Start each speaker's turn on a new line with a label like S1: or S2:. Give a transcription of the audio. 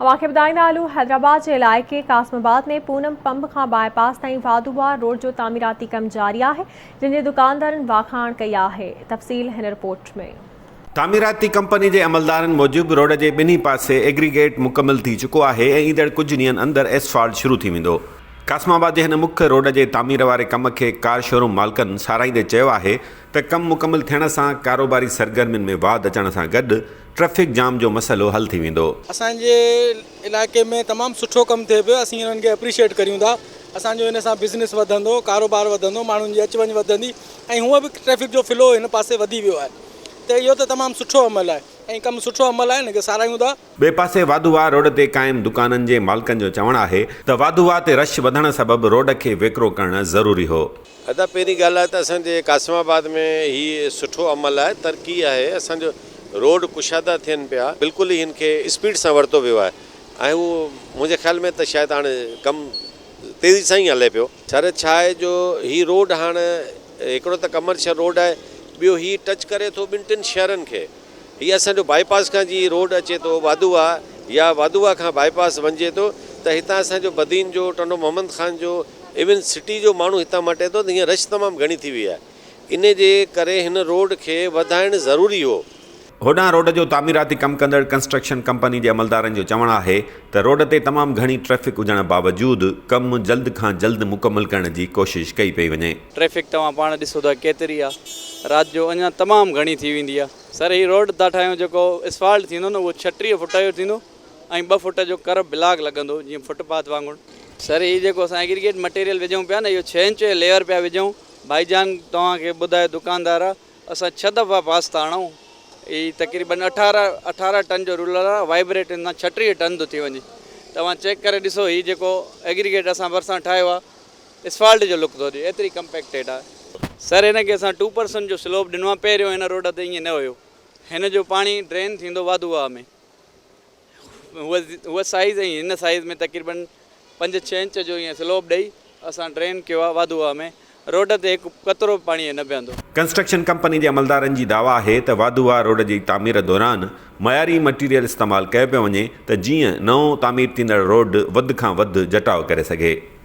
S1: اوهان کي ٻڌائيندا هلون حيدرآباد جي علائقي قاسم آباد ۾ پونم پنب کان باء پاس تائين واڌو وار روڊ جو تعميراتي ڪم جاري آهي جنهن جي دڪاندارن واکاڻ ڪئي آهي تفصيل هن رپورٽ ۾ تعميراتي
S2: ڪمپني جي عملدارن موجب روڊ جي ٻنهي پاسي ايگريگيٽ مڪمل ٿي چڪو آهي ۽ ايندڙ ڪجهه ڏينهن اندر ايسفالٽ شروع ٿي ويندو قاسم آباد جي هن مک روڊ جي تعمير واري ڪم کي ڪار شوروم مالڪن ساراهيندي چيو آهي ته ڪم مڪمل ٿيڻ سان ڪاروباري سرگرمين ۾ واڌ اچڻ سان گڏ ٽريفڪ جام جو مسئلو حل ٿي ويندو. اسان جي
S3: علائقي ۾ تمام سٺو ڪم ٿئي پيو اسين انهن کي اپريشيئيٽ ڪريون ٿا اسان جو ان سان بزنس وڌندو ڪاروبار وڌندو ماڻهن جي اچ وڃ وڌندي ۽ هونء به ٽريفڪ جو فلو هن پاسي وڌي ويو آهي ته اهو ته تمام سٺو عمل آهي ۽ ڪم سٺو عمل آهي ان کي ساراهيون ٿا. ٻئي پاسي واڌو واهه
S2: روڊ تي قائم دڪانن جي مالڪن جو چوڻ آهي ته واڌو واهه تي رش وڌڻ سبب روڊ کي ويڪرو ڪرڻ ضروري هو. ادا پهرين ڳالهه
S4: آهي ته اسان جي قاسم آباد ۾ هي سٺو عمل آهي ترقي آهي اسان جو روڊ ڪشادا ٿين پيا بلڪل ئي هن کي اسپيڊ سان ورتو ويو آهي ۽ هو منهنجي خيال ۾ ته شايد هاڻ ڪم تيزي سان ئي هلي پيو. سر ڇا آهي جو هي روڊ هاڻ هڪڙو ته ڪمرشل روڊ آهي ٻيو هي ٽچ ڪري ٿو ٻن ٽن شهرن کي هي اسان جو بائي پاس کان جي روڊ اچي ٿو وادوها يا وادوها کان بائي پاس وڃجي ٿو ته هتان اسان جو بدين جو ٽنڊو محمد خان جو ايون سٽي جو ماڻهو هتان مٽي ٿو ته هينئر رش تمام گهڻي ٿي وئي آهي انهي جي ڪري هن روڊ کي وڌائڻ ضروري هو. هوڏانهن روڊ جو
S2: تعميراتي ڪم ڪندڙ ڪنسٽرڪشن ڪمپني جي عملدارن جو چوڻ آهي ته روڊ تي تمام گهڻي ٽريفڪ هجڻ باوجود ڪم جلد کان جلد مڪمل ڪرڻ جي ڪوشش ڪئي پئي وڃي. ٽريفڪ توهان پاڻ
S5: ڏسو ٿا ڪيتري آهي رات جو اڃان تمام گهڻي ٿي ويندي آهي سر هي روڊ تان ٺاهيون جيڪو اسفالٽ ٿيندو نه اهو ڇهٽيهه فٽ جو ٿيندو. ۽ ٻه فٽ جو ڪرب بلاڪ لڳندو جيئن فٽ پاٿ وانگر. سر هي جيڪو اسان ايگريگيٽ مٽيريل وجهون پيا نه اهو ڇهه انچ جو ليئر پيا وجهون ڀائي جان توهان کي ٻڌايو دڪاندار اسان ڇهه دفعا پاس ٿا هڻون هي تقريبن اٺارهن اٺارهن ٽن جو رولر آهي وائبريٽ هن سان ڇٽيهه ٽن ٿو ٿي وڃي توهان چيڪ ڪري ڏسو هي جيڪو ايگريگيٽ اسان ڀرسان ٺاهيو آهي اسفالٽ جو لڪ ٿو ڏي ايتري ڪمپيڪٽيڊ آهي. سر هن کي اسان ٽو پرسنٽ جو سلوپ ڏنو آهي پهريون هن روڊ تي ائين نه هيو هن جو پاڻي ڊرين ٿيندو واڌو واهه ۾ هو سائيز ۽ هن سائيز ۾ تقريبن پنج ڇهه انچ جو ائين سلوپ ڏئي اسان ڊرين ڪيو آهي واڌو واهه ۾ روڊ تي هڪ قطرو به پاڻيء نه بيهندو. ڪنسٽرڪشن ڪمپني جي عملدارن جي
S2: دعويٰ آهي ته واڌو واهه روڊ جي تعمير دوران معياري مٽيريل استعمال ڪيو پيو وڃي ته جيئن نئون تعمير ٿيندڙ روڊ وڌ کان وڌ جٽاء ڪري سگهي.